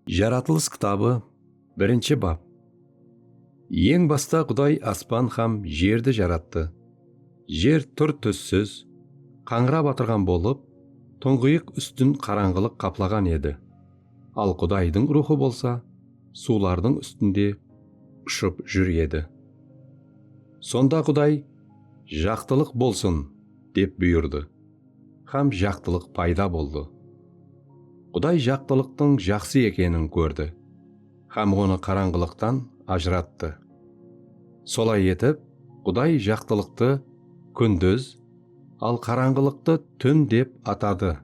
Jaratılıs kitabı birinshi bap Eń basta Quday aspan hám jerdi jarattı. Jer túr-tússiz, qańırap atırǵan bolıp, tuńǵıyıq ústin qarańǵılıq qaplaǵan edi. Al Qudaydıń Ruwxı bolsa suwlardıń ústinde ushıp júr edi. Sonda Quday, Jaqtılıq bolsın! dep buyırdı. Hám jaqtılıq payda boldı. Quday jaqtılıqtıń jaqsı ekenin kórdi hám onı qarańǵılıqtan ajırattı. Solay etip, Quday jaqtılıqtı Kúndiz, al qarańǵılıqtı Tún dep atadı.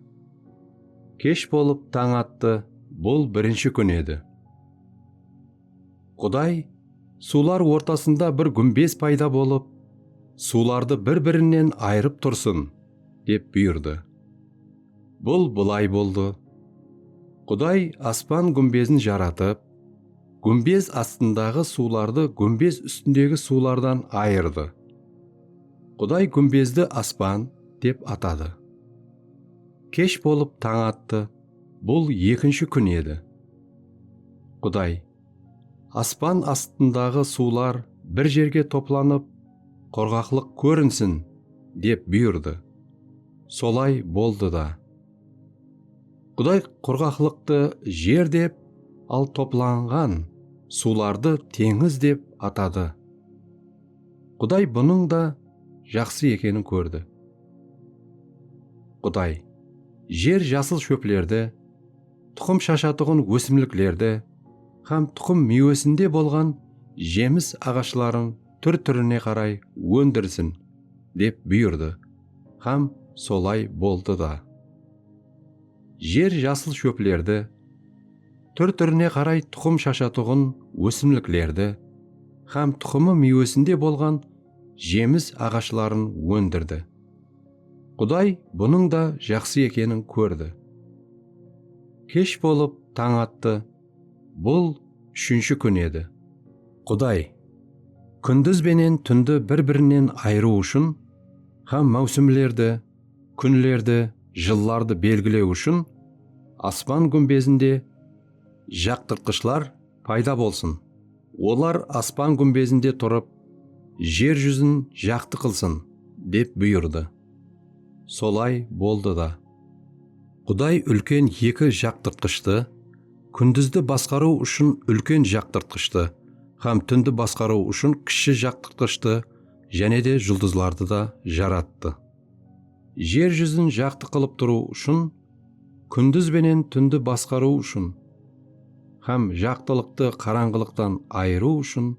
Kesh bolıp tań attı, bul birinshi kún edi. Quday, suwlar ortasında bir gúmbez payda bolıp, suwlardı bir-birinen ayırıp tursın, dep buyırdı. Bul bılay boldı. Quday aspan gúmbezin jaratıp, gúmbez astındaǵı suwlardı gúmbez ústindegi suwlardan ayırdı. Quday gúmbezdi Aspan dep atadı. Kesh bolıp tań attı. Bul ekinshi kún edi. Quday, Aspan astındaǵı suwlar bir jerge toplanıp, qurǵaqlıq kórinsin, dep buyırdı. Solay boldı da. Quday qurǵaqlıqtı jer dep, al toplanǵan suwlardı teńiz dep atadı. Quday bunıń da jaqsı ekenin kórdi. Quday, jer jasıl shóplerdi, tuqım shashatuǵın ósimliklerdi hám tuqım miywesinde bolǵan jemis aǵashların túr-túrine qaray óndirsin, dep buyırdı hám solay boldı da. Jer jasıl shóplerdi, túr-túrine qaray tuqım shashatuǵın ósimliklerdi hám tuqımı miywesinde bolǵan jemis aǵashların óndirdi. Quday bunıń da jaqsı ekenin kórdi. Kesh bolıp tań attı, bul úshinshi kún edi. Quday, kúndiz benen túndi bir-birinen ayırıw ushın hám máwsimlerdi, kúnlerdi, jıllardı belgilew ushın aspan gúmbezinde jaqtırtqıshlar, payda bolsın. Olar aspan gúmbezinde turıp, jer júzin jaqtı qılsın, dep buyırdı. Solay boldı da. Quday úlken eki jaqtırtqıshtı, kúndizdi basqarıw ushın úlken jaqtırtqıshtı hám túndi basqarıw ushın kishshi jaqtırtqıshtı jáne de juldızlardı da jarattı. Jer júzin jaqtı qılıp turıw ushın, kúndiz benen túndi basqarıw ushın hám jaqtılıqtı qarańǵılıqtan ayırıw ushın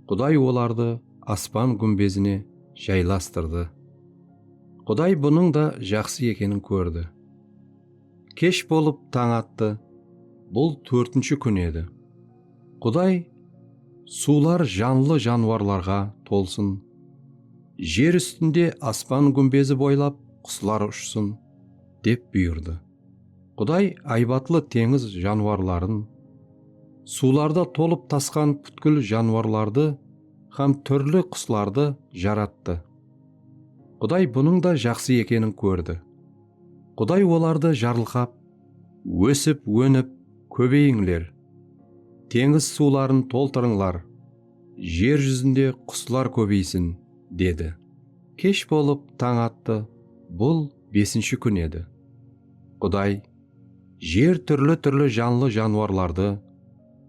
Quday olardı aspan gúmbezine jaylastırdı. Quday bunıń da jaqsı ekenin kórdi. Kesh bolıp tań attı, bul tórtinshi kún edi. Quday, Suwlar janlı janıwarlarǵa tolsın, jer ústinde aspan gúmbezi boylap quslar ushsın, dep buyırdı. Quday aybatlı teńiz janıwarların, suwlarda tolıp-tasqan pútkil janıwarlardı hám túrli quslardı jarattı. Quday bunıń da jaqsı ekenin kórdi. Quday olardı jarılqap, Ósip, ónip, kóbeyińler. Teńiz suwların toltırıńlar. Jer júzinde quslar kóbeysin, dedi. Kesh bolıp tań attı, bul besinshi kún edi. Quday Jer túrli-túrli janlı janwarlardı,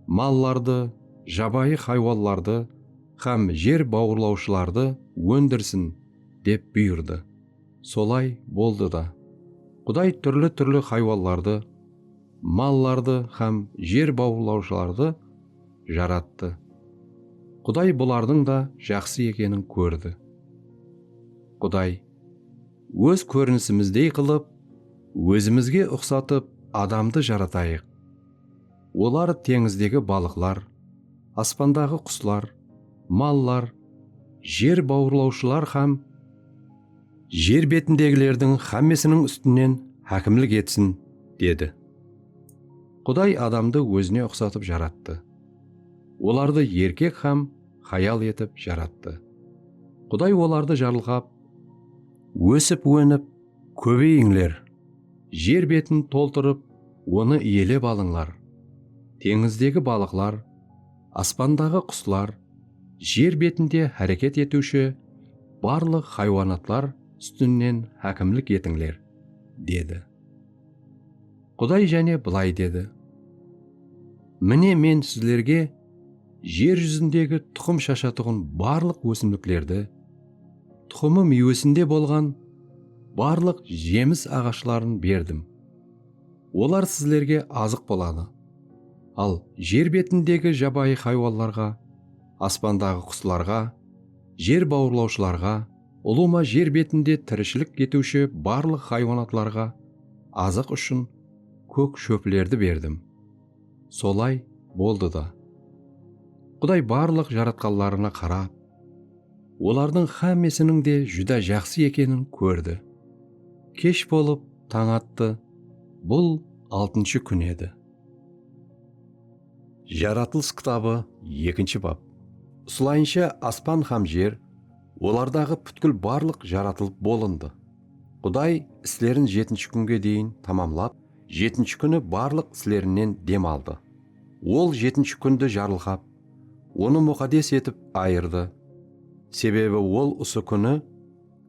mallardı, jabayı haywanlardı hám jer bawırlawshılardı óndirsin, dep buyırdı. Solay boldı da. Quday túrli-túrli haywanlardı, mallardı hám jer bawırlawshılardı jarattı. Quday bulardıń da jaqsı ekenin kórdi. Quday, Óz kórinisimizdey qılıp, ózimizge uqsatıp adamdı jaratayıq. Olar teńizdegi balıqlar, aspandaǵı quslar, mallar, jer bawırlawshılar hám jer betindegilerdiń hámmesiniń ústinen hákimlik etsin, dedi. Quday adamdı ózine uqsatıp jarattı. Olardı erkek hám hayal etip jarattı. Quday olardı jarılǵap, Ósip-ónip, kóbeyińler! Jer betin toltırıp, onı iyelep alıńlar, teńizdegi balıqlar, aspandaǵı quslar, jer betinde háreket etiwshi barlıq haywanatlar ústinen hákimlik etińler, dedi. Quday jáne bılay dedi, Mine, Men sizlerge jer júzindegi tuqım shashatuǵın barlıq ósimliklerdi, Tuxımı miywesinde bolǵan barlıq jemis aǵashların berdim. Olar sizlerge azıq boladı. Al jer betindegi jabayı haywanlarǵa, aspandaǵı quslarǵa, jer bawırlawshılarǵa, ulıwma jer betinde tirishilik etiwshi barlıq haywanatlarǵa azıq ushın kók shóplerdi berdim. Solay boldı da. Quday barlıq jaratqanlarına qarap, olardıń xámmesiniń de júdá jaqsı ekenin kórdi. Kesh bolıp, tań attı, bul altınshı kún edi. Jaratılıs kitabı ekinshi bap. Usılayınsha aspan hám jer, olardaǵı pútkil barlıq jaratılıp bolındı. Quday islerin jetinshi kúnge deyin tamamlap, Jetinshi kúni barlıq islerinnen dem aldı. Ol jetinshi kúndi jarılǵap, onı muqaddes etip ayırdı, sebebi ol usı kúni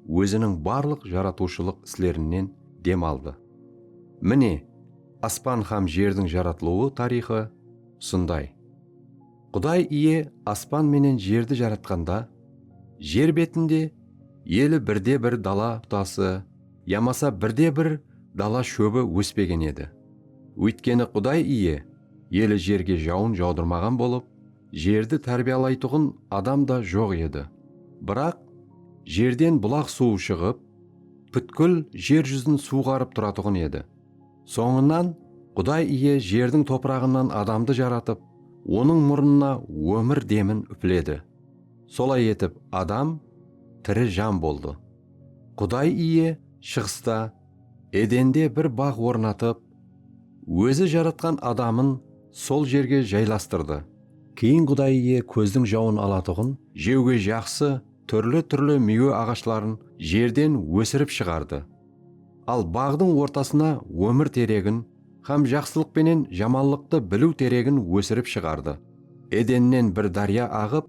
Óziniń barlıq jaratıwshılıq islerinnen dem aldı. Mine, aspan hám jerdiń jaratılıwı tariyxı usınday. Quday Iye aspan menen jerdi jaratqanda, jer betinde eli birde-bir dala butası yamasa birde-bir dala shóbi óspegen edi. Óytkeni Quday Iye eli jerge jawın jawdırmaǵan bolıp, jerdi tárbiyalaytuǵın adam da joq edi. Biraq, jerden bulaq suwı shıǵıp, pútkil jer júzin suwǵarıp turatuǵın edi. Sońınan Quday Iye jerdiń topıraǵınan adamdı jaratıp, onıń murınına ómir demin úpiledi. Solay etip adam tiri jan boldı. Quday Iye shıǵısta Edende bir baǵ ornatıp, Ózi jaratqan adamın sol jerge jaylastırdı. Keyin Quday Iye kózdiń jawın alatuǵın, jewge jaqsı, túrli-túrli miywe aǵashların jerden ósirip shıǵardı. Al baǵdıń ortasına ómir teregin hám jaqsılıq penen jamanlıqtı biliw teregin ósirip shıǵardı. Edennen bir dárya aǵıp,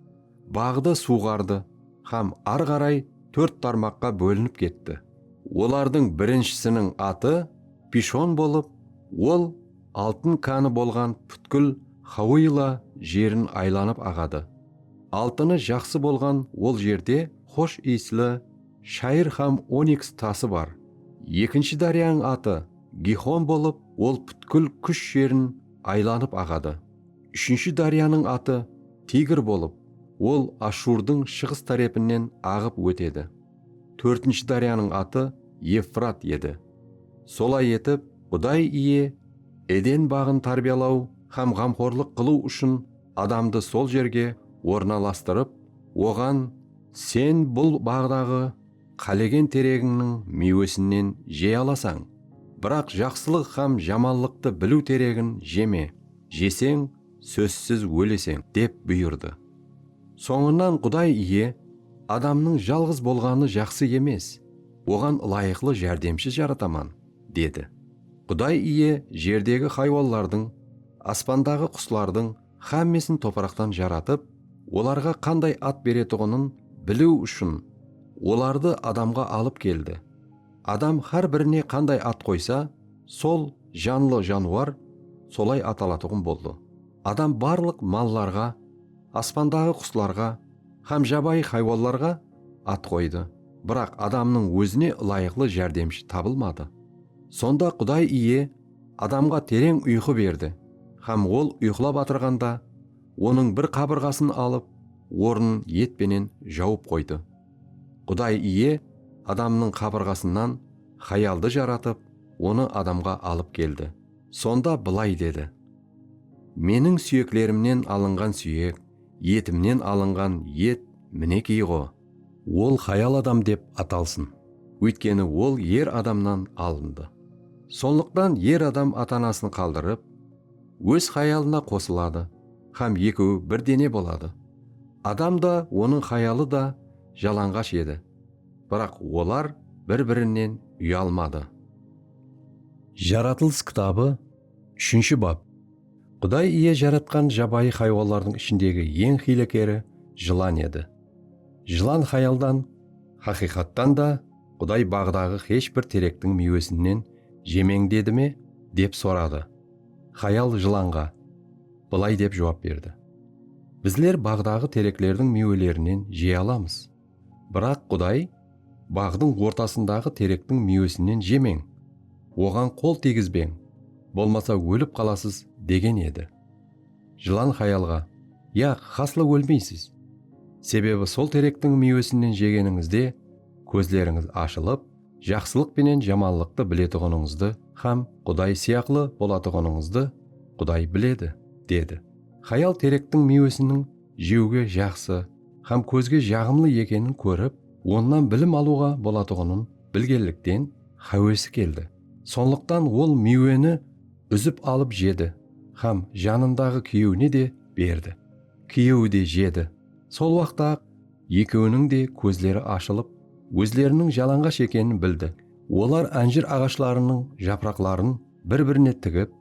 baǵdı suwǵardı hám ar qaray tórt tarmaqqa bólinip ketti. Olardıń birinshisiniń atı Pishon bolıp, ol altın kánı bolǵan pútkil Xauila jerin aylanıp aǵadı. Altını jaqsı bolǵan ol jerde xosh iyisli Shayır hám oniks tası bar. Ekinshi dáryanıń atı Gixon bolıp, ol pútkil Kúsh jerin aylanıp aǵadı. Úshinshi dáryanıń atı Tigr bolıp, ol Ashurdıń shıǵıs tárepinen aǵıp ótedi. Tórtinshi dáryanıń atı Evfrat edi. Solay etip, Quday Iye Eden baǵın tárbiyalaw hám ǵamxorlıq qılıw ushın adamdı sol jerge ornalastırıp, oǵan, Sen bul baǵdaǵı qálegen teregińniń miywesinnen jey alasań, biraq jaqsılıq hám jamanlıqtı biliw teregin jeme, jeseń, sózsiz óleseń, dep buyırdı. Sońınan Quday Iye, Adamnıń jalǵız bolǵanı jaqsı emes, oǵan ılayıqlı járdemshi jarataman, dedi. Quday Iye jerdegi haywanlardıń, aspandaǵı quslardıń, xámmesin topıraqtan jaratıp, olarǵa qanday at beretuǵının biliw ushın olardı adamǵa alıp keldi. Adam xár birine qanday at qoysa, sol janlı januar solay atalatuǵın boldı. Adam barlıq mallarǵa, aspandaǵı quslarǵa xám jabayı xaywanlarǵa at qoydı. Biraq adamnıń ózine ılayıqlı járdemshi tabılmadı. Sonda Quday Iye. Adamǵa tereń uyqı berdi hám ol uyqılap atırǵanda, onıń bir qabırǵasın alıp, ornın et penen jawıp qoydı. Quday Iye adamnıń qabırǵasınan hayaldı jaratıp, onı adamǵa alıp keldi. Sonda bılay dedi, Meniń súyeklerimnen alınǵan súyek, etimnen alınǵan et minekiy-ǵo! Ol hayal adam dep atalsın. Óytkeni ol er adamnan alındı. Sonlıqtan er adam ata-anasın qaldırıp, óz hayalına qosıladı hám ekeui bir dene boladı. Adam da, onıń hayalı da jalanǵash edi, biraq olar bir-birinen uyalmadı. Jaratılıs kitabı, úshinshi bap. Quday Iye jaratqan jabayı haywanlardıń ishindegi eń hiylekeri jılan edi. Jılan xayaldan, xaqıyqattan da Quday baǵdaǵı xesh bir terektiń miywesinnen jemeń dedi me? dep soradı. Xayal jılanǵa bılay dep juwap berdi, Bizler baǵdaǵı tereklerdiń miywelerinen jey alamız. Biraq Quday, Baǵdıń ortasındaǵı terektiń miywesinnen jemeń, oǵan qol tiygizbeń, bolmasa ólip qalasız, degen edi. Jılan xayalǵa, Yaq, xaslı ólmeysiz. Sebebi sol terektiń miywesinnen jegenińizde kózlerińiz ashılıp, jaqsılıq penen jamanlıqtı biletuǵınıńızdı hám Quday sıyaqlı bolatuǵınıńızdı Quday biledi, dedi. Xayal terektiń miywesiniń jewge jaqsı hám kózge jaǵımlı ekenin kórip, onnan bilim alıwǵa bolatuǵının bilgenlikten háwesi keldi. Sonlıqtan ol miyweni Úzip alıp jedi hám janındaǵı kúyewine de berdi. Kúyewi de jedi. Sol waqta-aq ekewiniń de kózleri ashılıp, ózleriniń jalańǵash ekenin bildi. Olar ánjir aǵashlarınıń japıraqların bir-birine tigip,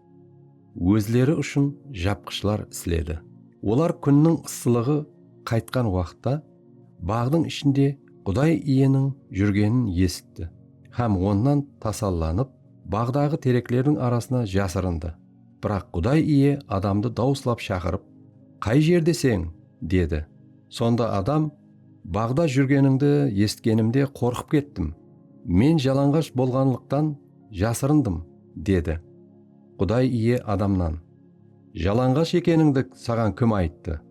ózleri ushın japqıshlar isledi. Olar kúnniń ıssılıǵı qaytqan waqıtta baǵdıń ishinde Quday Iyeniń júrgenin esitti hám Onnan tasallanıp, Baǵdaǵı tereklerdiń arasına jasırındı. Biraq Quday Iye adamdı dawıslap shaqırıp, Qay jerdeseń? dedi. Sonda adam, Baǵda júrgenińdi esitkenimde qorqıp kettim. Men jalanǵash bolǵanlıqtan jasırındım, dedi. Quday Iye adamnan, Jalanǵash ekenińdi saǵan kim ayttı?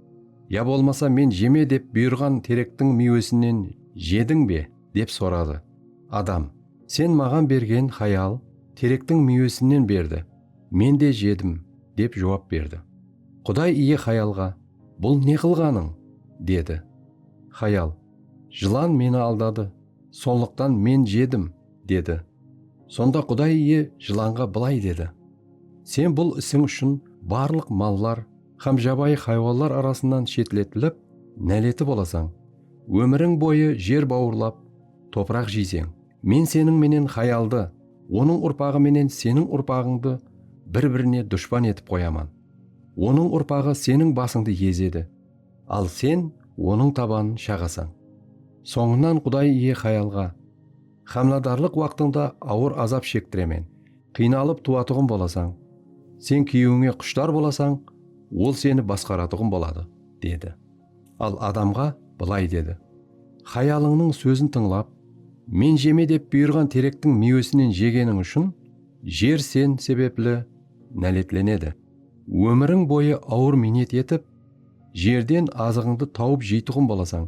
Ya bolmasa Men jeme dep buyırǵan terektiń miywesinen jediń be? Dep soradı. Adam, Sen maǵan bergen hayal terektiń miywesinnen berdi, men de jedim, dep juwap berdi. Quday iye hayalǵa, Bul ne qılǵanıń? dedi. Hayal, Jılan meni aldadı, sonlıqtan men jedim, dedi. Sonda Quday iye jılanǵa bılay dedi, Sen bul isiń ushın barlıq mallar hám jabayı haywanlar arasınan shetletilip, náleti bolasań. Ómiriń boyı jer bawırlap, topıraq jeyseń. Men seniń menen xayaldı, onıń urpaǵı menen seniń urpaǵıńdı bir-birine dushpan etip qoyaman. Onıń urpaǵı seniń basıńdı ezedi, al sen onıń tabanın shaǵasań. Sońınan Quday Iye xayalǵa, Xámladarlıq waqtıńda awır azap shektiremen, qıynalıp tuwatuǵın bolasań. Sen kúyewińe qushtar bolasań, ol seni basqaratuǵın boladı, dedi. Al adamǵa bılay dedi, Xayalıńnıń sózin tıńlap, Men jeme dep buyırǵan terektiń miywesinen jegeniń ushın jer sen sebepli náletlenedi. Ómiriń boyı awır miynet etip, jerden azıǵıńdı tawıp jeytuǵın bolasań.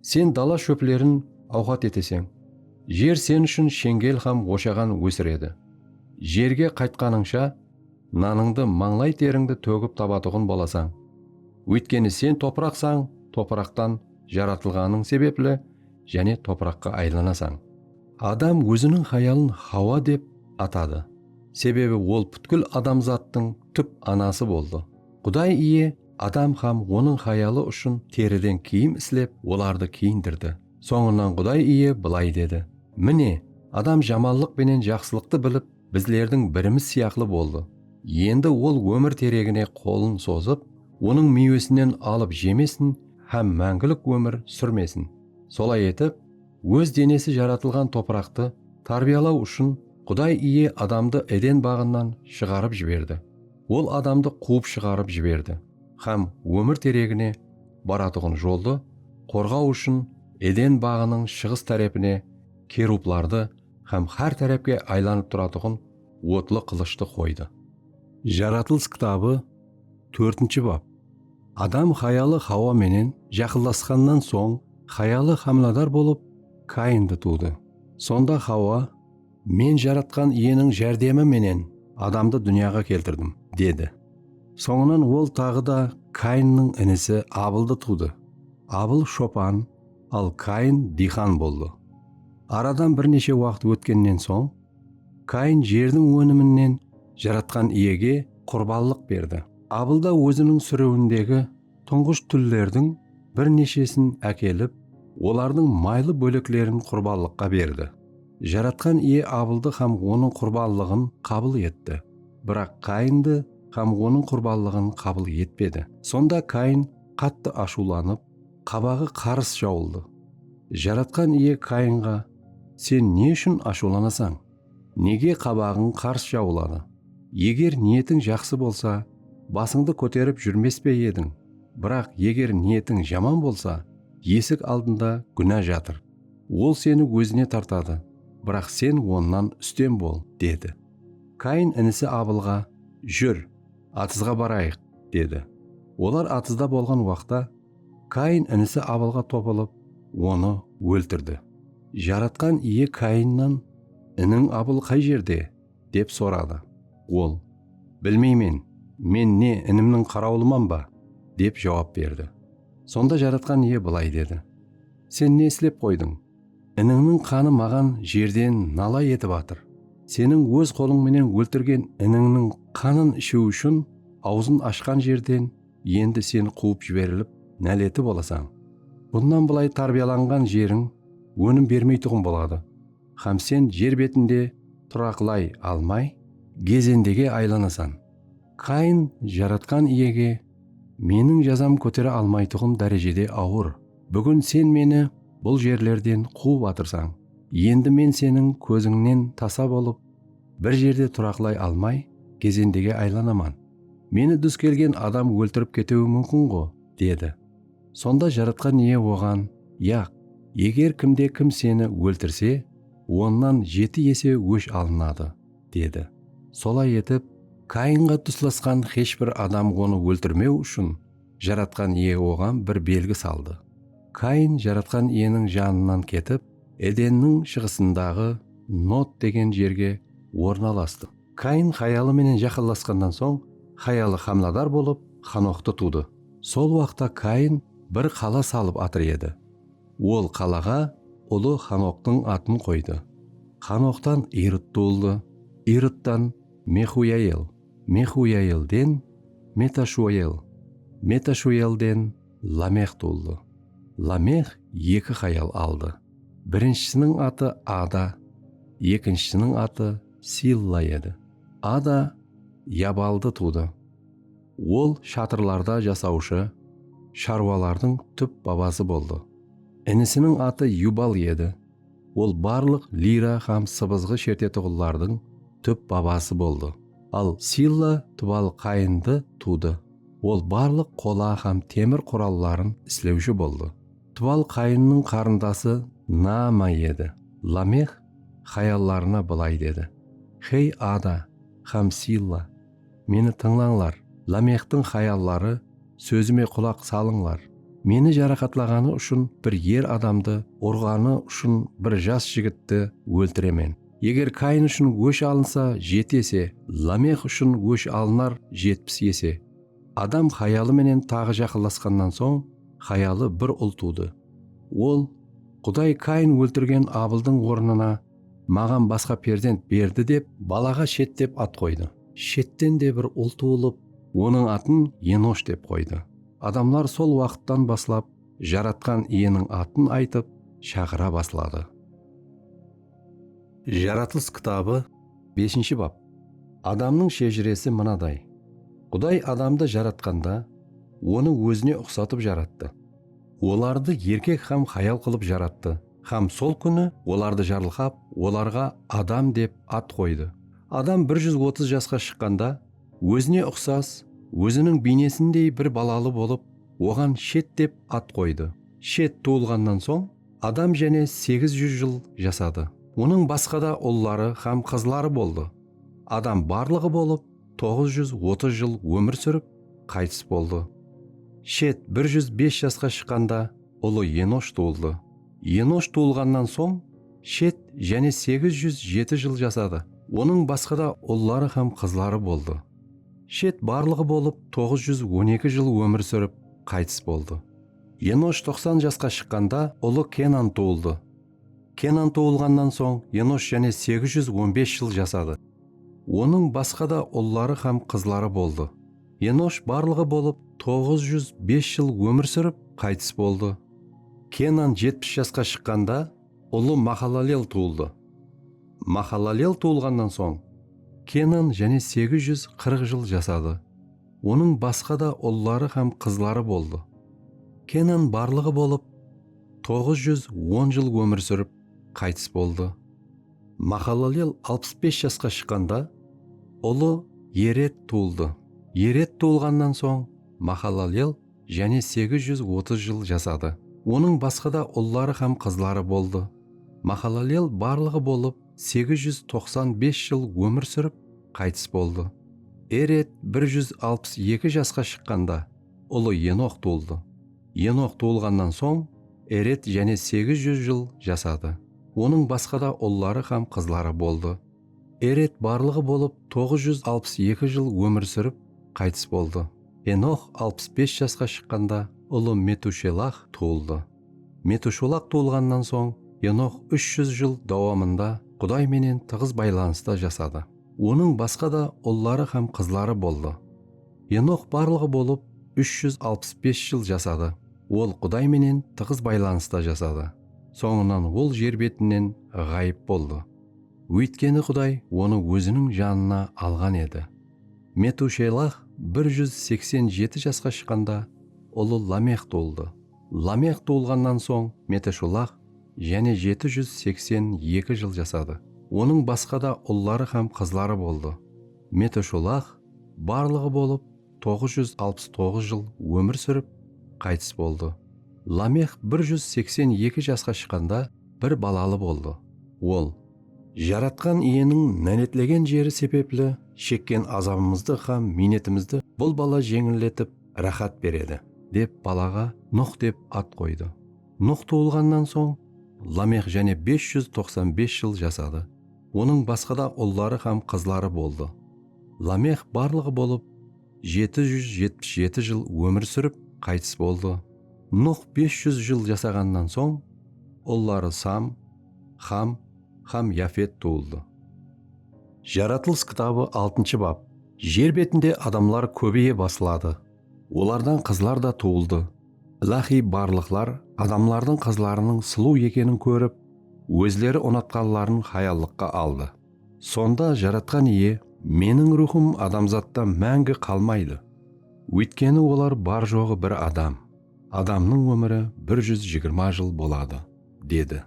Sen dala shóplerin awqat eteseń. Jer sen ushın sheńgel hám oshaǵan ósiredi. Jerge qaytqanıńsha, Nanıńdı, mańlay terińdi tógip tabatuǵın bolasań. Óytkeni sen topıraqsań, topıraqtan jaratılǵanıń sebepli jáne topıraqqa aylanasań. Adam óziniń hayalın Hawa dep atadı, sebebi ol pútkil adamzattıń túp anası boldı. Quday Iye Adam hám onıń hayalı ushın teriden kiyim islep, olardı kiyindirdi. Sońınan Quday Iye bılay dedi, Mine, Adam jamallıq penen jaqsılıqtı bilip, bizlerdiń birimiz sıyaqlı boldı. Endi ol ómir teregine qolın sozıp, onıń miywesinen alıp jemesin hám máńgilik ómir súrmesin. Solay etip, óz denesi jaratılǵan topıraqtı tárbiyalaw ushın Quday Iye adamdı Eden baǵınan shıǵarıp jiberdi. Ol adamdı quwıp shıǵarıp jiberdi hám ómir teregine baratuǵın joldı qorǵaw ushın Eden baǵınıń shıǵıs tárepine kerublardı hám hár tárápke aylanıp turatuǵın otlı qılıshtı qoydı. Jaratılıs kitabı tórtinshi bap. Adam hayalı Hawa menen jaqınlasqannan soń hayalı hámiladar bolıp, Kayindi tuwdı. Sonda Hawa, Men Jaratqan Iyeniń járdemi menen adamdı dúnyaǵa keltirdim, dedi. Sońınan ol taǵı da Kayinniń inisi Abıldı tuwdı. Abıl shopan, al Kain diyxan boldı. Aradan bir neshe waqıt ótkennen soń, Kain jerdiń óniminnen Jaratqan Iyege qurbanlıq berdi. Abıl da óziniń súriwindegi tuńǵısh túllerdiń bir neshesin ákelip, olardıń maylı bóleklerin qurbanlıqqa berdi. Jaratqan Iye Abıldı hám onıń qurbanlıǵın qabıl etti, biraq Kaindi hám onıń qurbanlıǵın qabıl etpedi. Sonda Kain qattı ashıwlanıp, qabaǵı qarıs jawıldı. Jaratqan Iye Kainǵa, Sen ne ushın ashıwlanasań? Nege qabaǵıń qars jawıladı? Eger niyetiń jaqsı bolsa, basıńdı kóterip júrmes pe ediń? Biraq eger niyetiń jaman bolsa, esik aldında gúna jatır. Ol seni ózine tartadı, biraq sen onnan ústem bol, dedi. Kain inisi Abılǵa, Júr, atızǵa barayıq, dedi. Olar atızda bolǵan waqta, Kayin inisi Abilǵa topılıp, onı óltirdi. Jaratqan Iye Kayinnan, Iniń Abil qay jerde? dep soradı. Ol, Bilmeymen, men ne, inimniń qarawılıman ba? dep jawap berdi. Sonda Jaratqan Iye bılay dedi, Sen ne islep qoydıń? Inińniń qanı maǵan jerden nala etip atır. Seniń óz qolıń menen óltirgen inińniń qanın ishiw ushın awzın ashqan jerden endi sen quwıp jiberilip náleti bolasań. Bunnan bılay tárbiyalanǵan jeriń ónim bermeytuǵın boladı hám sen jer betinde turaqlay almay, gezendege aylanasan. Kain Jaratqan Iyege, Meniń jazam kótere almaytuǵın dárejede awır. Búgin sen meni bul jerlerden quwıp atırsań. Endi men seniń kózińnen tasa bolıp, bir jerde turaqlay almay, gezendege aylanaman. Meni dús kelgen adam óltirip ketiwi múmkin-ǵo, dedi. Sonda Jaratqan Iye oǵan, Yaq, eger kimde-kim seni óltirse, onnan jeti ese ósh alınadı, dedi. Solay etip, Kainǵa duslasqan xesh bir adam onı óltirmew ushın Jaratqan Iye oǵan bir belgi saldı. Kain Jaratqan Iyeniń janınan ketip, Edenniń shıǵısındaǵı Nod degen jerge ornalastı. Kain hayalı menen jaqınlasqannan soń, hayalı xamladar bolıp, Xanoxtı tuwdı. Sol waqta Kain bir qala salıp atır edi. Ol qalaǵa ulı Xanoxtıń atın qoydı. Xanoxtan Irıt tuwıldı, Irıttan, Mexuyael, Mexuyaelden, Metashuel, Metashuelden, Lamex tuwıldı. Lamex eki hayal aldı. Birinshisiniń atı Ada, ekinshisiniń atı, Silla edi. Ada Yabaldı tuwdı. Ol shatırlarda jasawshı sharwalardıń túp babası boldı. Inisiniń atı Yubal edi. Ol barlıq lira hám sıbızǵı shertetuǵınlardıń túp babası boldı. Al Silla Tubal Qayındı tuwdı. Ol barlıq qola hám temir quralların islewshi boldı. Tubal Qayınnıń qarındası Naama edi. Lameh xayallarına bılay dedi, Xey, Ada hám Silla, meni tıńlańlar, Lamextiń xayalları, sózime qulaq salıńlar. Meni jaraqatlaǵanı ushın bir er adamdı, urǵanı ushın bir jas jigitti óltiremen. Eger Kain ushın ósh alınsa, jeti ese, Lamex ushın ósh alınar jetpis ese. Adam hayalı menen taǵı jaqınlasqannan soń, hayalı bir ul tuwdı. Ol, Quday Kain óltirgen Abıldıń ornına maǵan basqa perzent berdi dep, balaǵa Shet dep at qoydı. Shetten de bir ul tuwılıp, onıń atın Enosh dep qoydı. Adamlar sol waqıttan baslap Jaratqan Iyeniń atın aytıp, shaqıra basladı. Jaratılıs kitabı beshinshi bap Adamnıń shejiresi mınaday, Quday adamdı jaratqanda, onı ózine uqsatıp jarattı. Olardı erkek hám hayal qılıp jarattı hám sol kúni olardı jarılqap, olarǵa Adam dep at qoydı. Adam bir júz otız jasqa shıqqanda, ózine uqsas, óziniń biynesindey bir balalı bolıp, oǵan Shet dep at qoydı. Shet tuwılǵannan soń, Adam jáne segiz júz jıl jasadı. Onıń basqa da ulları hám qızları boldı. Adam barlıǵı bolıp toǵız júz otız jıl ómir súrip, qaytıs boldı. Shet bir júz bes jasqa shıqqanda ulı Enosh tuwıldı. Enosh tuwılǵannan soń, Shet jáne segiz júz jeti jıl jasadı. Onıń basqa da ulları hám qızları boldı. Shet barlıǵı bolıp toǵız júz on eki jıl ómir súrip, qaytıs boldı. Enosh toqsan jasqa shıqqanda ulı Kenan tuwıldı. Kenan tuwılǵannan soń Enosh jáne segiz júz on bes jıl jasadı. Onıń basqa da ulları hám qızları boldı. Enosh barlıǵı bolıp toǵız júz bes jıl ómir súrip, qaytıs boldı. Kenan jetpis jasqa shıqqanda ulı Mahalalel tuwıldı. Mahalalel tuwılǵannan soń Kenan jáne segiz júz qırq jıl jasadı. Onıń basqa da ulları hám qızları boldı. Kenan barlıǵı bolıp toǵız júz on jıl ómir súrip, qaytıs boldı. Mahalalel alpıs bes jasqa shıqqanda ulı Ered tuwıldı. Ered tuwılǵannan soń Mahalalel jáne segiz júz otız jıl jasadı. Onıń basqa da ulları hám qızları boldı. Mahalalel barlıǵı bolıp segiz júz toqsan bes jıl ómir súrip, qaytıs boldı. Ered bir júz alpıs eki jasqa shıqqanda, ulı Enox tuwıldı. Enox tuwılǵannan soń, Ered jáne segiz júz jıl jasadı. Onıń basqa da ulları hám qızları boldı. Ered barlıǵı bolıp toǵız júz alpıs eki jıl ómir súrip, qaytıs boldı. Enox alpıs bes jasqa shıqqanda ulı Metushelah tuwıldı. Metushulaq tuwılǵannan soń Enox úsh júz jıl dawamında Quday menen tıǵız baylanısta jasadı. Onıń basqa da ulları hám qızları boldı. Enox barlıǵı bolıp úsh júz alpıs bes jıl jasadı. Ol Quday menen tıǵız baylanısta jasadı. Sońınan ol jer betinen ǵayıp boldı. Óytkeni Quday onı Óziniń janına alǵan edi. Metushelah bir júz seksen jeti jasqa shıqqanda, ulı Lamex tuwıldı. Lamex tuwılǵannan soń Meteshulah jáne jeti júz seksen eki jıl jasadı. Onıń basqa da ulları hám qızları boldı. Meteshulah barlıǵı bolıp. toǵız júz alpıs toǵız jıl ómir súrip, qaytıs boldı. Lamex bir júz seksen eki jasqa shıqqanda bir balalı boldı. Ol. Jaratqan Iyeniń náletlegen jeri sebepli shekken azabımızdı hám miynetimizdi bul bala jeńilletip, ráhát beredi. Dep balaǵa Nuh dep at qoydı. Nuh tuwılǵannan soń, Lamex jáne bes júz toqsan bes jıl jasadı. Onıń basqada ulları hám qızları boldı. Lamex barlıǵı bolıp jeti júz jetpis jeti jıl ómir súrip, qaytıs boldı. Nuh bes júz jıl jasaǵannan soń, ulları Sam, Xam hám Yafet tuwıldı. Jaratılıs kitabı altınshı bap. Jer betinde adamlar kóbeye basladı. Olardan qızlar da tuwıldı. Iláhiy barlıqlar adamlardıń qızlarınıń suluw ekenin kórip, ózleri unatqanların hayallıqqa aldı. Sonda Jaratqan Iye, Meniń ruwxım adamzatta máńgi qalmaydı, óytkeni olar bar-joǵı bir adam, adamnıń ómiri bir júz jigirma jıl boladı, dedi.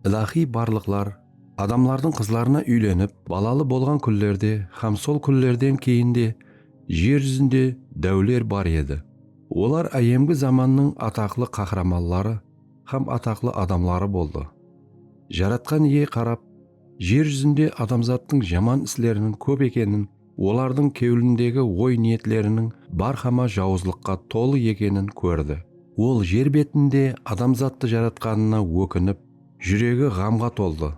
Iláhiy barlıqlar adamlardıń qızlarına úylenip, balalı bolǵan kúnlerde hám sol kúnlerden keyin de jer júzinde dáwler bar edi. Olar áyyemgi zamannıń ataqlı qahramanları hám ataqlı adamları boldı. Jaratqan Iye qarap, Jer júzinde adamzattıń jaman isleriniń kóp ekenin, olardıń kewlindegi oy-niyetleriniń bárhama jawızlıqqa tolı ekenin kórdi. Ol jer betinde adamzattı jaratqanına ókinip, júregi ǵamǵa toldı.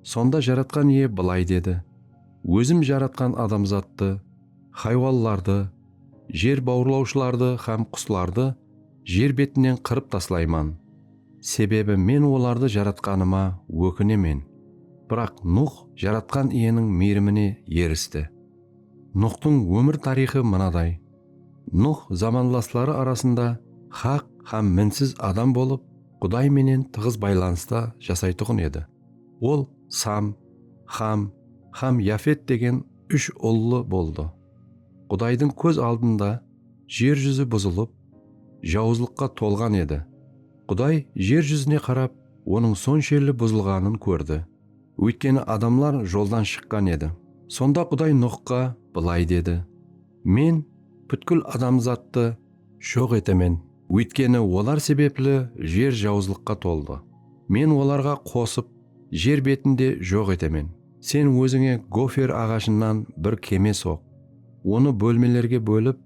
Sonda Jaratqan Iye bılay dedi, Ózim jaratqan adamzattı, haywanlardı, jer bawırlawshılardı hám quslardı, jer betinen qırıp taslayman, sebebi Men olardı Jaratqanıma ókinemen. Biraq Nuh Jaratqan Iyeniń miyrimine eristi. Nuhtıń ómir tariyxı mınaday, Nuh zamanlasları arasında haq hám minsiz adam bolıp, Quday menen tıǵız baylanısta jasaytuǵın edi. Ol Sam, Xam hám Yafet degen úsh ullı boldı. Qudaydıń kóz aldında jer júzi buzılıp, jawızlıqqa tolǵan edi. Quday jer júzine qarap, onıń sonshelli buzılǵanın kórdi, óytkeni adamlar joldan shıqqan edi. Sonda Quday Nuxqa bılay dedi, Men pútkil adamzattı joq etemen, óytkeni olar sebepli jer jawızlıqqa toldı. Men olarǵa qosıp, jer betinde joq etemen. Sen ózińe gofer aǵashınan bir keme soq. Onı bólmelerge bólip,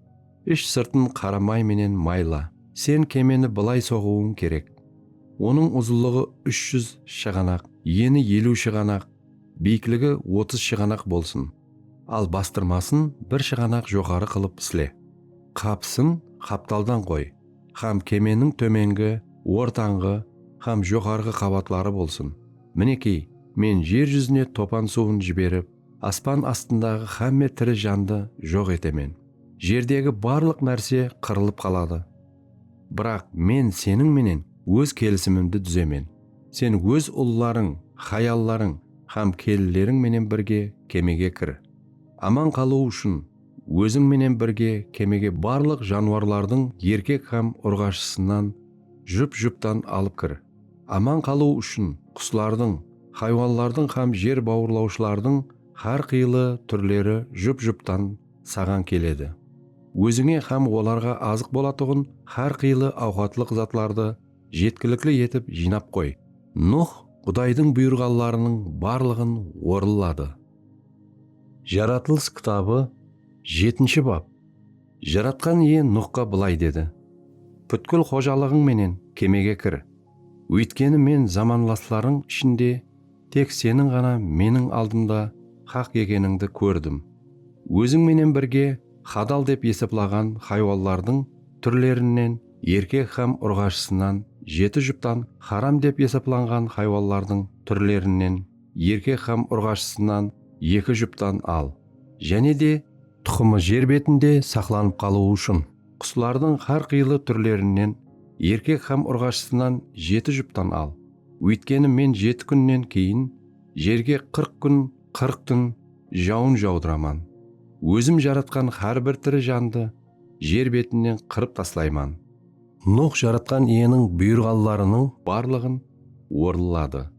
ish-sırtın qara may menen mayla. Sen kemeni bılay soǵıwıń kerek. Onıń uzınlıǵı úsh júz shıǵanaq, eni eliw shıǵanaq, biyikligi otız shıǵanaq bolsın. Al bastırmasın bir shıǵanaq joqarı qılıp isle. Qapısın qaptaldan qoy. hám kemeniń tómengi, ortanǵı hám joqarǵı qabatları bolsın. Minekey, Men jer júzine topan suwın jiberip, aspan astındaǵı hámme tiri jandı joq etemen. Jerdegi barlıq nárse qırılıp qaladı. Biraq Men seniń menen Óz kelisimimdi dúzemen. Sen óz ullarıń, hayallarıń hám kelinleriń menen birge kemege kir. Aman qalıw ushın, Óziń menen birge kemege barlıq janwarlardıń erkek hám urǵashısınan jup-juptan alıp kir. Aman qalıw ushın quslardıń, haywanlardıń hám jer bawırlawshılardıń hár qıylı túrleri jup-juptan saǵan keledi. Ózińe hám olarǵa azıq bolatuǵın hár qıylı awqatlıq zatlardı jetkilikli etip jıynap qoy. Nuh Qudaydıń buyırǵanlarınıń barlıǵın orınladı. Jaratılıs kitabı jetinshi bap Jaratqan Iye Nuxqa bılay dedi, Pútkil xojalıǵıń menen kemege kir, óytkeni Men zamanlaslarıń ishinde tek seniń ǵana Meniń aldımda haq ekenińdi kórdim. Óziń menen birge hadal dep esaplaǵan haywanlardıń túrlerinen erkek hám urǵashısınan jeti juptan haram dep esaplanǵan haywanlardıń túrlerinen, erkek hám urǵashısınan eki juptan al, jáne de. Tuqımı jer betinde saqlanıp qalıwı ushın, quslardıń hár qıylı túrlerinen erkek hám urǵashısınan jeti juptan al, óytkeni Men jeti kúnnen keyin jerge qırq kún, qırq tún jawın jawdıraman. Ózim jaratqan hár bir tiri jandı, jer betinen qırıp taslayman. Nuwx Jaratqan Iyeniń buyırǵanlarınıń barlıǵın orınladı.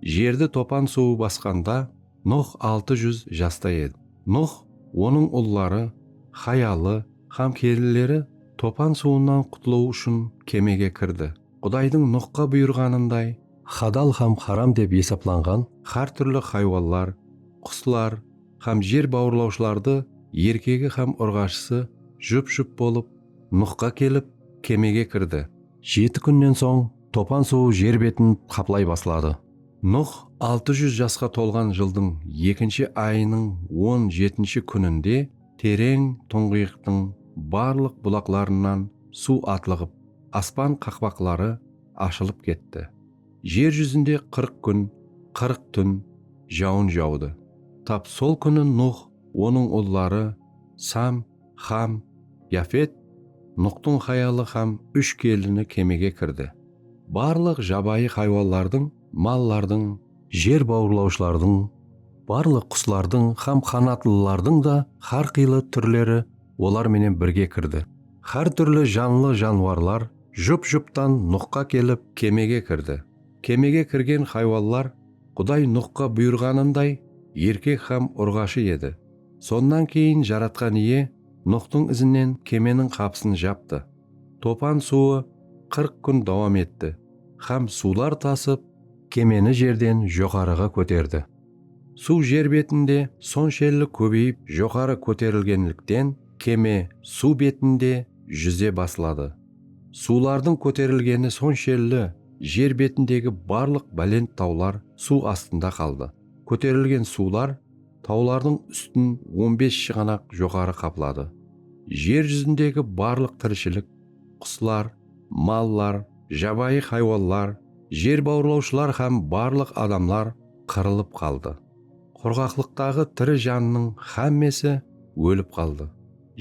Jerdi topan suwı basqanda Nuwx altı júz jasta edi. Nuwx, onıń ulları, hayalı hám kelinleri topan suwınan qutılıw ushın kemege kirdi. Qudaydıń Nuwxqa buyırǵanınday, hadal hám haram dep esaplanǵan hár túrli haywanlar, quslar, hám jer bawırlawshılardı erkegi hám urǵashısı jup-jup bolıp Nuxqa kelip, kemege kirdi. Jeti kúnnen soń topan suwı jer betin qaplay basladı. Nux altı júz jasqa tolǵan jıldıń ekinshi ayınıń on jetinshi kúninde tereń tuńǵıyıqtıń barlıq bulaqlarınan suw atlıǵıp, aspan qaqpaqları ashılıp ketti. Jer júzinde qırq kún, qırq tún jawın jawdı. Tap sol kúni Nuh, onıń ulları, Sam, Xam, Yafet, Nuxtıń hayalı hám úsh kelini kemege kirdi. Barlıq jabayı haywanlardıń, mallardıń, jer bawırlawshılardıń, barlıq quslardıń hám qanatlılardıń da hár qıylı túrleri olar menen birge kirdi, hár túrli janlı janwarlar, Jup-juptan Nuxqa kelip kemege kirdi. Kemege kirgen haywanlar Quday Nuxqa buyırǵanınday erkek hám urǵashı edi. Sonnan keyin Jaratqan Iye Nuxtıń izinen kemeniń qapısın japtı. Topan suwı qırq kún dawam etti hám suwlar tasıp, kemeni jerden joqarıǵa kóterdi. Suw jer betinde sonshelli kóbeyip joqarı kóterilgenlikten keme suw betinde júze basladı. Suwlardıń kóterilgeni sonshelli jer betindegi barlıq bálent tawlar suw astında qaldı. Kóterilgen suwlar tawlardıń ústin on bes shıǵanaq joqarı qapladı. Jer júzindegi barlıq tirishilik, quslar, mallar, jabayı haywanlar, jer bawırlawshılar hám barlıq adamlar, qırılıp qaldı. Qurǵaqlıqtaǵı tiri jannıń xámmesi ólip qaldı.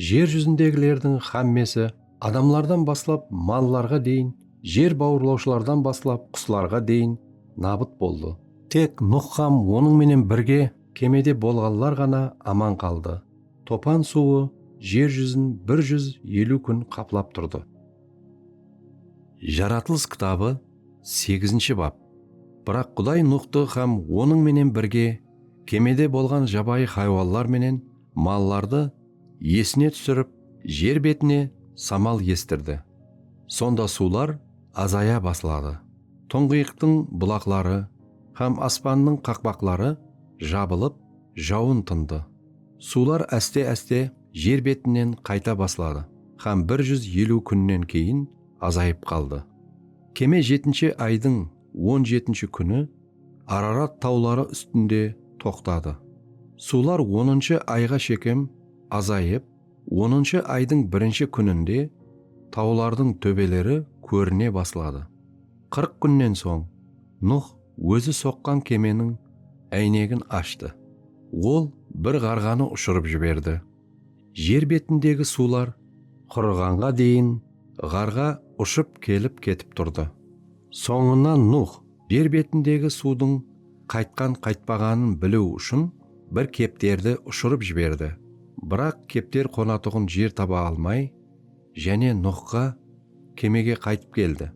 Jer júzindegilerdiń xámmesi, adamlardan baslap mallarǵa deyin, jer bawırlawshılardan baslap quslarǵa deyin nabıt boldı. Tek Nuh hám onıń menen birge kemede bolǵanlar ǵana aman qaldı. Topan suwı jer júzin bir júz eliw kún qaplap turdı. Jaratılıs kitabı segizinshi bap. Biraq Quday Nuxtı hám onıń menen birge kemede bolǵan jabayı haywanlar menen mallardı esine túsirip, jer betine samal estirdi. Sonda suwlar azaya basladı, tuńǵıyıqtıń bulaqları hám aspannıń qaqpaqları jabılıp, jawın tındı. Suwlar áste-áste jer betinen qayta basladı hám bir júz eliw kúnnen keyin azayıp qaldı. Keme jetinshi aydıń on jetinshi kúni Ararat tawları ústinde toqtadı. Suwlar onınshı ayǵa shekem azayıp, onınshı aydıń birinshi kúninde tawlardıń tóbeleri kórine basladı. Qırq kúnnen soń Nuh ózi soqqan kemeniń áynegin ashtı. Ol bir ǵarǵanı ushırıp jiberdi. Jer betindegi suwlar qurıǵanǵa deyin ǵarǵa ushıp kelip-ketip turdı. Sońınan Nuh jer betindegi suwdıń qaytqan-qaytpaǵanın biliw ushın bir kepterdi ushırıp jiberdi. Biraq kepter qonatuǵın jer taba almay, Jáne Nuxqa, Kemege qaytıp keldi.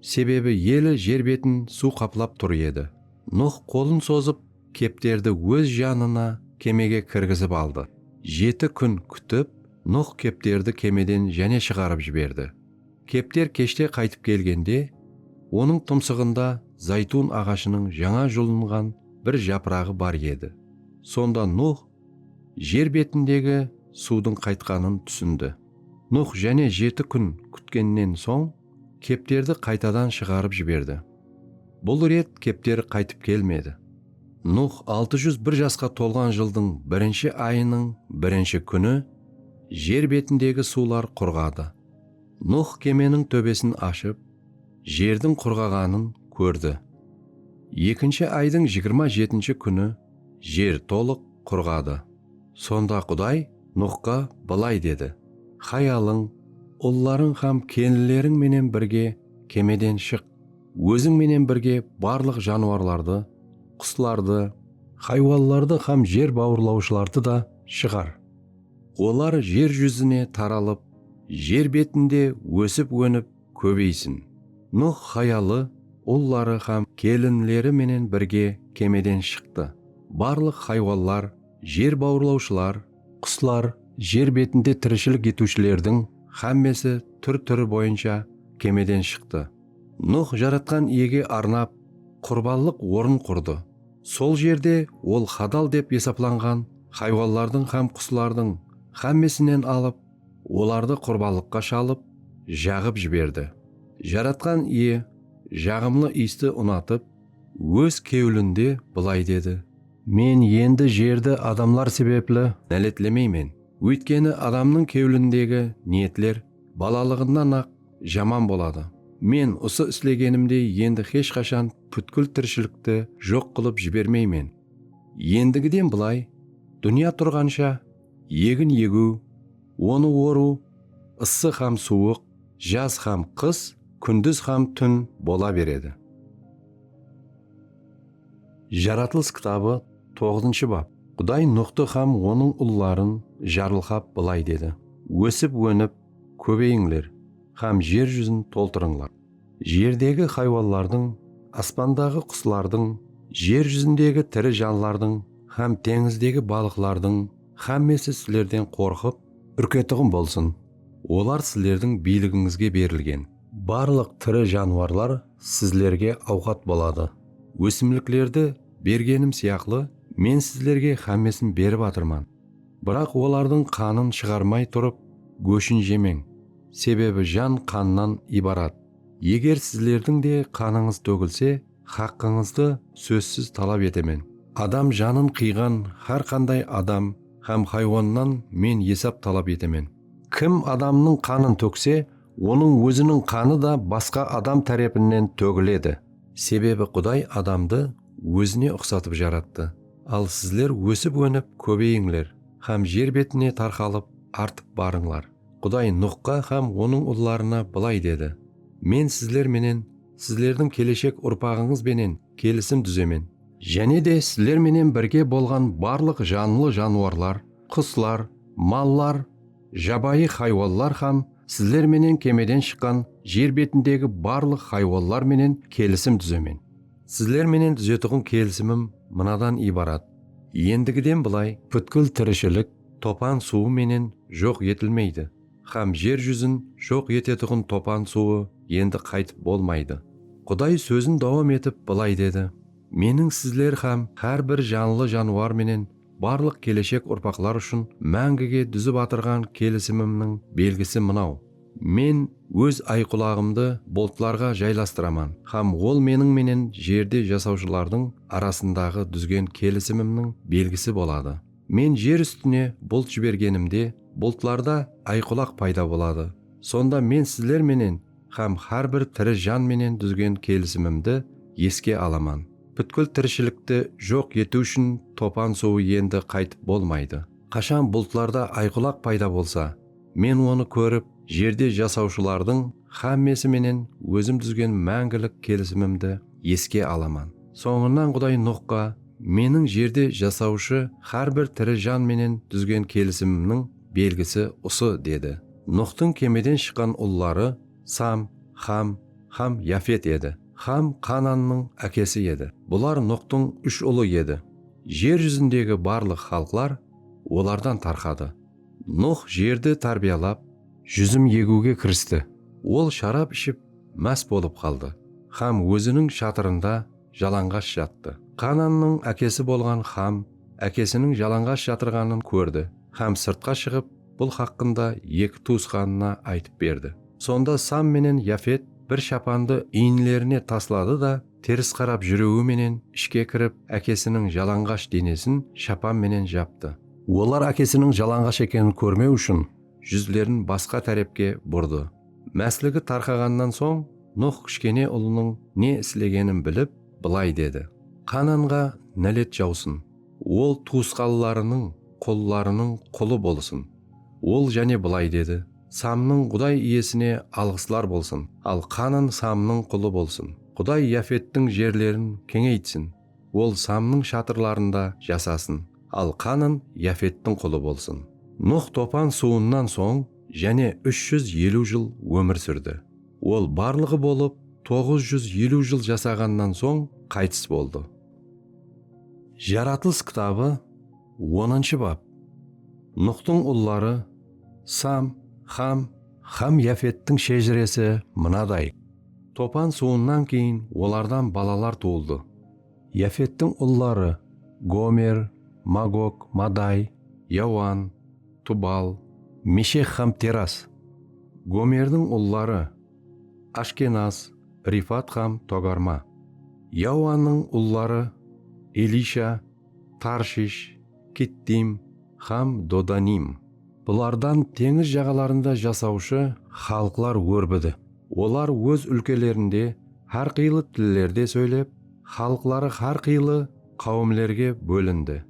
Sebebi eli jer betin suw qaplap tur edi. Nux qolın sozıp, kepterdi óz janına kemege kirgizip aldı. Jeti kún kútip, Nux kepterdi kemeden jáne shıǵarıp jiberdi. Kepter keshte qaytıp kelgende, onıń tımsıǵında zaytun aǵashınıń jańa julınǵan bir japıraǵı bar edi. Sonda Nux Jer betindegi suwdıń qaytqanın túsindi. Nuh jáne jeti kún kútkennen soń, kepterdi qaytadan shıǵarıp jiberdi. Bul ret kepter qaytıp kelmedi. Nuh altı júz bir jasqa tolǵan jıldıń birinshi ayınıń birinshi kúni jer betindegi suwlar qurǵadı. Nuh kemeniń tóbesin ashıp, jerdiń qurǵaǵanın kórdi. Ekinshi aydıń jigirma jetinshi kúni. Jer tolıq qurǵadı. Sonda Quday Nuxqa bılay dedi, Hayalıń, ullarıń hám kelinleriń menen birge kemeden shıq. Óziń menen birge barlıq janwarlardı, quslardı. Haywanlardı hám jer bawırlawshılardı da shıǵar. Olar jer júzine taralıp, jer betinde ósip-ónip. kóbeysin. Nuh hayalı, ulları hám kelinleri menen birge kemeden shıqtı. Barlıq haywanlar, jer bawırlawshılar, quslar jer betinde tirishilik etiwshilerdiń hámmesi túr-túri boyınsha kemeden shıqtı. Nuh Jaratqan Iyege arnap qurbanlıq orın qurdı. Sol jerde ol hadal dep esaplanǵan haywanlardıń hám quslardıń hámmesinen alıp, Olardı qurbanlıqqa shalıp, jaǵıp jiberdi. Jaratqan Iye jaǵımlı iysti unatıp, Óz kewlinde bılay dedi. Men endi jerdi adamlar sebepli náletlemeymen, óytkeni adamnıń kewlindegi niyetler balalıǵınan-aq jaman boladı. Men usı islegenimdey endi hesh qashan pútkil tirishilikti joq qılıp jibermeymen. Endigiden bılay, dúnya turǵansha Egin egiw, onı orıw, ıssı hám suwıq, jaz hám qıs, kúndiz hám tún bola beredi. Jaratılıs kitabı toǵızınshı bap. Quday Nuxtı hám onıń ulların jarılqap bılay dedi, Ósip-ónip, kóbeyińler hám jer júzin toltırıńlar. Jerdegi haywanlardıń, aspandaǵı quslardıń, jer júzindegi tiri janlardıń hám teńizdegi balıqlardıń hámmesi sizlerden qorqıp, úrketuǵın bolsın, olar sizlerdiń biyligińizge berilgen. Barlıq tiri janwarlar sizlerge awqat boladı. Ósimliklerdi bergenim sıyaqlı, Men sizlerge hámmesin berip atırman. Biraq olardıń qanın shıǵarmay turıp góshin jemeń, sebebi jan qannan ibarat. Eger sizlerdiń de qanıńız tógilse, haqqıńızdı sózsiz talap etemen. Adam janın qıyǵan hár qanday adam hám haywannan Men esap talap etemen. Kim adamnıń qanın tókse, onıń óziniń qanı da basqa adam tárepinen tógiledi, sebebi Quday adamdı ózine uqsatıp jarattı. Al sizler ósip-ónip kóbeyińler hám jer betine tarqalıp artıp barıńlar. Quday Nuxqa hám onıń ullarına bılay dedi, Men sizler menen, sizlerdiń keleshek urpaǵıńız benen kelisim dúzemen. Jáne de sizler menen birge bolǵan barlıq janlı janıwarlar, quslar, mallar, jabayı haywanlar hám sizler menen kemeden shıqqan jer betindegi barlıq haywanlar menen kelisim dúzemen. Sizler menen dúzetuǵın kelisimim mınadan ibarat, endigiden bılay pútkil tirishilik topan suwı menen joq etilmeydi hám jer júzin joq etetuǵın topan suwı endi qaytıp bolmaydı. Quday sózin dawam etip bılay dedi, Meniń sizler hám hár bir janlı janwar menen Barlıq keleshek urpaqlar ushın máńgige dúzip atırǵan kelisimimniń belgisi mınaw, Men Óz ayqulaǵımdı bultlarǵa jaylastıraman hám ol Meniń menen jerde jasawshılardıń arasındaǵı dúzgen kelisimimniń belgisi boladı. Men jer ústine bult jibergenimde, bultlarda ayqulaq payda boladı. Sonda Men sizler menen Hám hár bir tiri jan menen dúzgen kelisimimdi eske alaman. Pútkil tirishilikti joq etiw ushın topan suwı endi qaytıp bolmaydı. Qashan bultlarda ayqulaq payda bolsa, men onı kórip, jerde jasawshılardıń hámmesi menen ózim dúzgen máńgilik kelisimimdi eske alaman. Sońınan Quday Nuxqa, Meniń jerde jasawshı hár bir tiri jan menen dúzgen kelisimimniń belgisi usı, dedi. Nuxtıń kemeden shıqqan ulları Sam, Xam hám Yafet edi. Xam Qanannıń ákesi edi. Bular Nuxtıń úsh ulı edi. Jer júzindegi barlıq xalıqlar olardan tarqadı. Nux jerdi tárbiyalap, júzim egiwge kiristi. Ol sharap iship más bolıp qaldı hám óziniń shatırında jalanǵash jattı. Qanannıń ákesi bolǵan Xam ákesiniń jalanǵash jatırǵanın kórdi hám sırtqa shıǵıp, bul haqqında eki tuwısqanına aytıp berdi. Sonda Sam menen Yafet bir shapandı iyinlerine tasladı da, teris qarap júriwi menen ishke kirip, ákesiniń jalanǵash denesin shapan menen japtı. Olar ákesiniń jalanǵash ekenin kórmew ushın júzlerin basqa tárepke burdı. Másligi tarqaǵannan soń, Nuh kishkene ulınıń ne islegenin bilip, bılay dedi, Qananǵa nálet jawsın! Ol tuwısqanlarınıń qullarınıń qulı bolsın. Ol jáne bılay dedi, Samnıń Quday Iyesine alǵıslar bolsın, al Qanın Samnıń qulı bolsın. Quday Yafettiń jerlerin keńeytsin, ol Samnıń shatırlarında jasasın, al Qanın Yafettiń qulı bolsın. Nuh topan suwınan soń jáne úsh júz eliw jıl ómir súrdi. Ol barlıǵı bolıp toǵız júz eliw jıl jasaǵannan soń qaytıs boldı. Jaratılıs kitabı onınshı bap. Nuxtıń ulları, Sam, Xam, hám Yafettiń shejiresi mınaday. Topan suwınan keyin olardan balalar tuwıldı. Yafettiń ulları, Gomer, Magog, Maday, Yawan, Tubal, Meshek hám Teras. Gomerdiń ulları, Ashkenaz, Rifat hám Togarma. Yawanıń ulları, Elisha, Tarshish, Kittim hám Dodanim. Bulardan teńiz jaǵalarında jasawshı xalıqlar órbidi. Olar óz úlkelerinde hár qıylı tillerde sóylep, xalıqları hár qıylı qáwimlerge bólindi.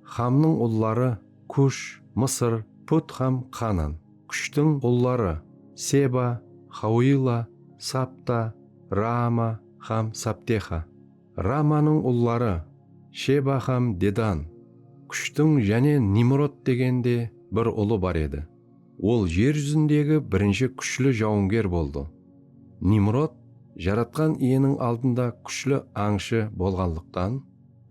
Xamnıń ulları, Kush, Mısır, Put hám Qanan. Kushtiń ulları, Seba, Xauila, Sapta, Raama hám Saptexa. Raamanıń ulları, Sheba hám Dedan. Kushtiń jáne Nimrod degen de bir ulı bar edi. Ol jer júzindegi birinshi kúshli jawınger boldı. Nimrod Jaratqan Iyeniń aldında kúshli ańshı bolǵanlıqtan,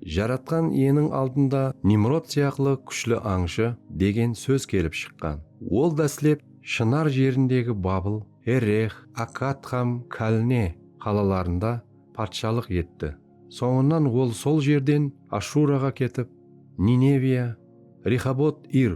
Jaratqan Iyeniń aldında Nimrod sıyaqlı kúshli ańshı degen sóz kelip shıqqan. Ol dáslep Shınar jerindegi Babıl, Errex, Akkad hám Kalne qalalarında patshalıq etti. Sońınan ol sol jerden Ashuraǵa ketip, Nineviya, Rexobot-Ir,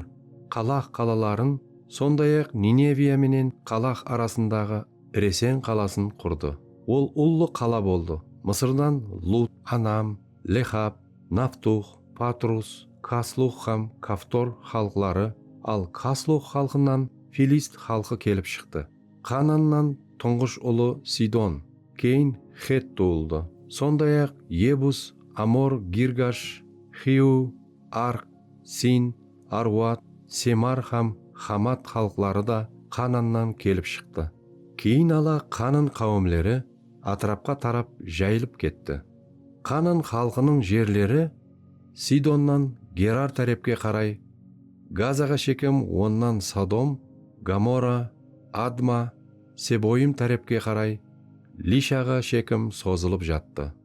Qalax qalaların, sonday-aq Nineviya menen Qalax arasındaǵı Resen qalasın qurdı. Ol ullı qala boldı. Mısırdan Lut, Anam, Lexab, Naftux, Patrus, Kaslux hám Kaftor xalıqları, al Kaslux xalqınan filist xalqı kelip shıqtı. Qanannan tuńǵısh ulı Sidon, keyin Xett tuwıldı. Sonday-aq, Yebus, Amor, Girgash, Xiw, Arq, Sin, Arwat, Semar hám Xamat xalıqları da Qanannan kelip shıqtı. Keyin ala Qanan qáwimleri átirapqa tarap jayılıp ketti. Qanan xalqınıń jerleri Sidonnan Gerar tárepke qaray, Gazaǵa shekem onnan Sodom, Gomora, Adma, Seboyim tárepke qaray, Lishaǵa shekim sozılıp jattı.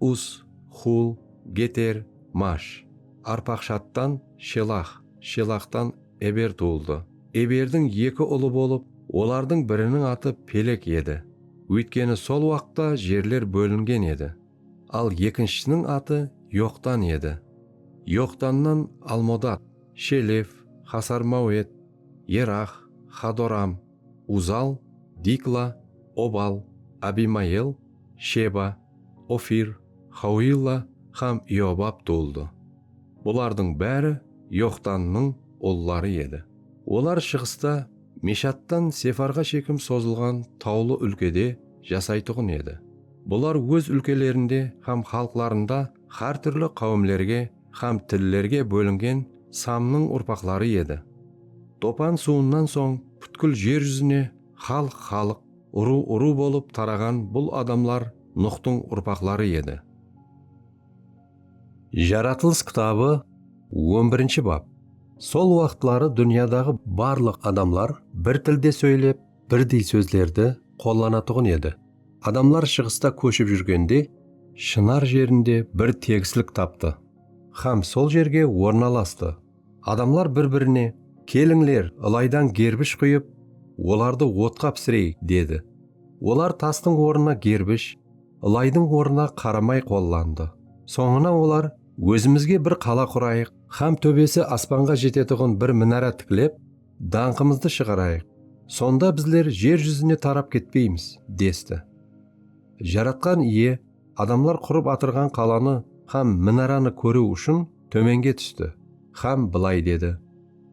Us, Xul, Geter, Mash. Arpaqshaddtan Shelax, Shelaxtan Eber tuwıldı. Eberdiń eki ulı bolıp, olardıń biriniń atı Pelek edi, óytkeni sol waqıtta jerler bólingen edi. Al ekinshisiniń atı Yoqtan edi. Yoqtannan Almodad, Shelef, Xasar-Mawed, Yerax, Xadoram. Uzal, Dikla, Obal, Abimayel, Sheba, Ofir, Xauilla hám Iobab tuwıldı. Bulardıń bári Yoqtannıń ulları edi. Olar shıǵısta Meshattan Sefarǵa shekim sozılǵan tawlı úlkede jasaytuǵın edi. Bular óz úlkelerinde hám xalıqlarında hár túrli qáwimlerge Hám tillerge bólingen Samnıń urpaqları edi. Topan suwınan soń pútkil jer júzine xalıq xalıq, urıw urıw bolıp taraǵan bul adamlar Nuxtıń urpaqları edi. Jaratılıs kitabı on birinshi bap. Sol waqıtları dúnyadaǵı barlıq adamlar bir tilde sóylep, birdey sózlerdi qollanatuǵın edi. Adamlar shıǵısta kóship júrgende Shınar jerinde bir tegislik taptı xám sol jerge ornalastı. Adamlar bir-birine, Kelińler, ılaydan gerbish quyıp, olardı otqa pisireyik, dedi. Olar tastıń ornına gerbish, ılaydıń ornına qaramay qollandı. Sońına olar, Ózimizge bir qala qurayıq xám tóbesi aspanǵa jetetuǵın bir minara tiklep, dańqımızdı shıǵarayıq, sonda bizler jer júzine tarap ketpeymiz, desti. Jaratqan Iye adamlar qurıp atırǵan qalanı hám minaranı kóriw ushın tómenge tústi hám bılay dedi,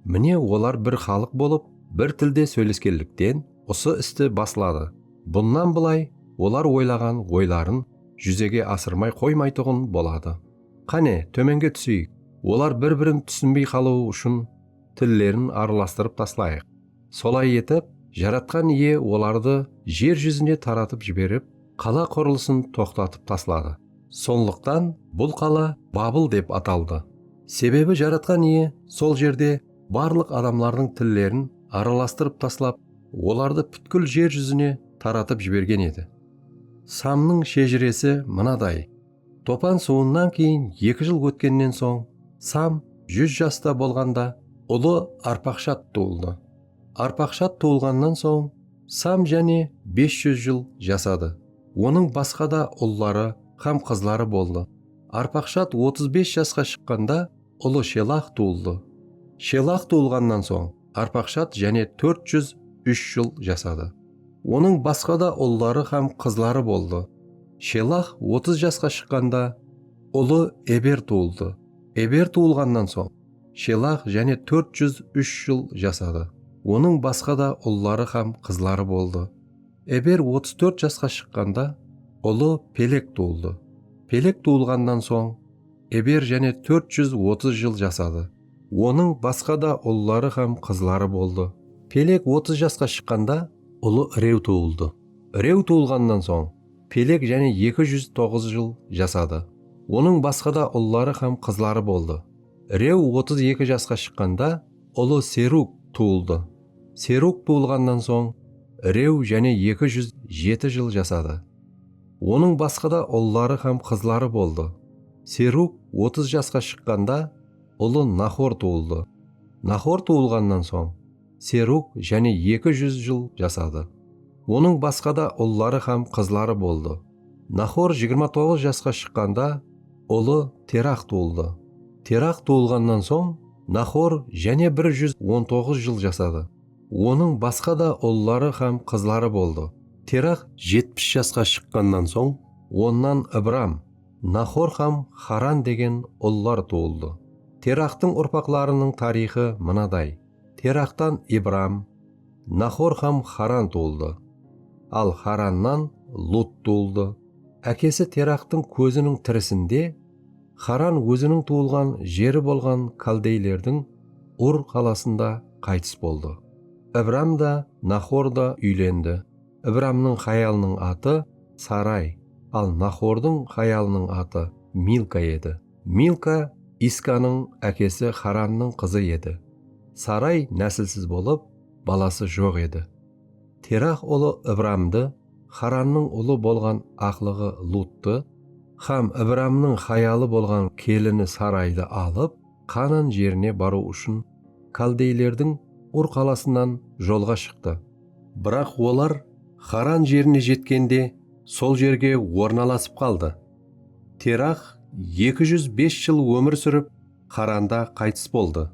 Mine, olar bir xalıq bolıp, bir tilde sóyleskenlikten usı isti basladı. Bunnan bılay olar oylaǵan oyların júzege asırmay qoymaytuǵın boladı. Qáne, tómenge túseyik, olar bir-birin túsinbey qalıwı ushın. tillerin aralastırıp taslayıq. Solay etip, Jaratqan Iye olardı jer júzine taratıp jiberip, qala qurılısın toqtatıp tasladı. Sonlıqtan bul qala Babıl dep ataldı. Sebebi Jaratqan Iye sol jerde barlıq adamlardıń tillerin aralastırıp taslap, olardı pútkil jer júzine taratıp jibergen edi. Samnıń shejiresi mınaday. Topan suwınan keyin eki jıl ótkennen soń Sam júz jasta bolǵanda ulı Arpaqshad tuwıldı. Arpaqshad tuwılǵannan soń Sam jáne bes júz jıl jasadı. Onıń basqa da ulları hám qızları boldı. Arpaqshad otız bes jasqa shıqqanda ulı Shelax tuwıldı. Shelax tuwılǵannan soń Arpaqshat jáne tórt júz úsh jıl jasadı. Onıń basqa da ulları hám qızları boldı. Shelax otız jasqa shıqqanda, ulı Eber tuwıldı. Eber tuwılǵannan soń, Shelax jáne tórt júz úsh jıl jasadı. Onıń basqa da ulları hám qızları boldı. Eber otız tórt jasqa shıqqanda, ulı Pelek tuwıldı. Pelek tuwılǵannan soń, Eber jáne tórt júz otız jıl jasadı. Onıń basqa da ulları hám qızları boldı. Pelek otız jasqa shıqqanda, ulı Rew tuwıldı. Rew tuwılǵannan soń, Pelek jáne eki júz toǵız jıl jasadı. Onıń basqa da ulları hám qızları boldı. Rew otız eki jasqa shıqqanda, ulı Serug tuwıldı. Serug tuwılǵannan soń, Rew jáne eki júz jeti jıl jasadı. Onıń basqa da ulları hám qızları boldı. Serug otız jasqa shıqqanda ulı Nahor tuwıldı. Nahor tuwılǵannan soń, Serug jáne eki júz jıl jasadı. Onıń basqa da ulları hám qızları boldı. Nahor jigirma toǵız jasqa shıqqanda ulı Terah tuwıldı. Terah tuwılǵannan soń, Nahor jáne bir júz on toǵız jıl jasadı. Onıń basqa da ulları hám qızları boldı. Terah jetpis jasqa shıqqannan soń, onnan Ibram, Naxor hám Xaran degen ullar tuwıldı. Teraxtıń urpaqlarınıń tariyxı mınaday, Teraxtan Ibram, Naxor hám Xaran tuwıldı. Al Xarannan Lut tuwıldı. Ákesi Teraxtıń kóziniń tirisinde Xaran óziniń tuwılǵan jeri bolǵan kaldeylerdiń Ur qalasında qaytıs boldı. Ibram da, Naxor da úylendi. Ibramnıń hayalınıń atı Saray, al Nahordıń hayalınıń atı Milka edi. Milka Iskanıń ákesi Xarannıń qızı edi. Saray násilsiz bolıp, balası joq edi. Terax ulı Ibramdı, Xarannıń ulı bolǵan aqlıǵı Luttı hám Ibramnıń hayalı bolǵan kelini Saraydı alıp, Qanan jerine barıw ushın kaldeylerdiń Ur qalasınan jolǵa shıqtı. Biraq olar Xaran jerine jetkende sol jerge ornalasıp qaldı. Terax eki júz bes jıl ómir súrip, Xaranda qaytıs boldı.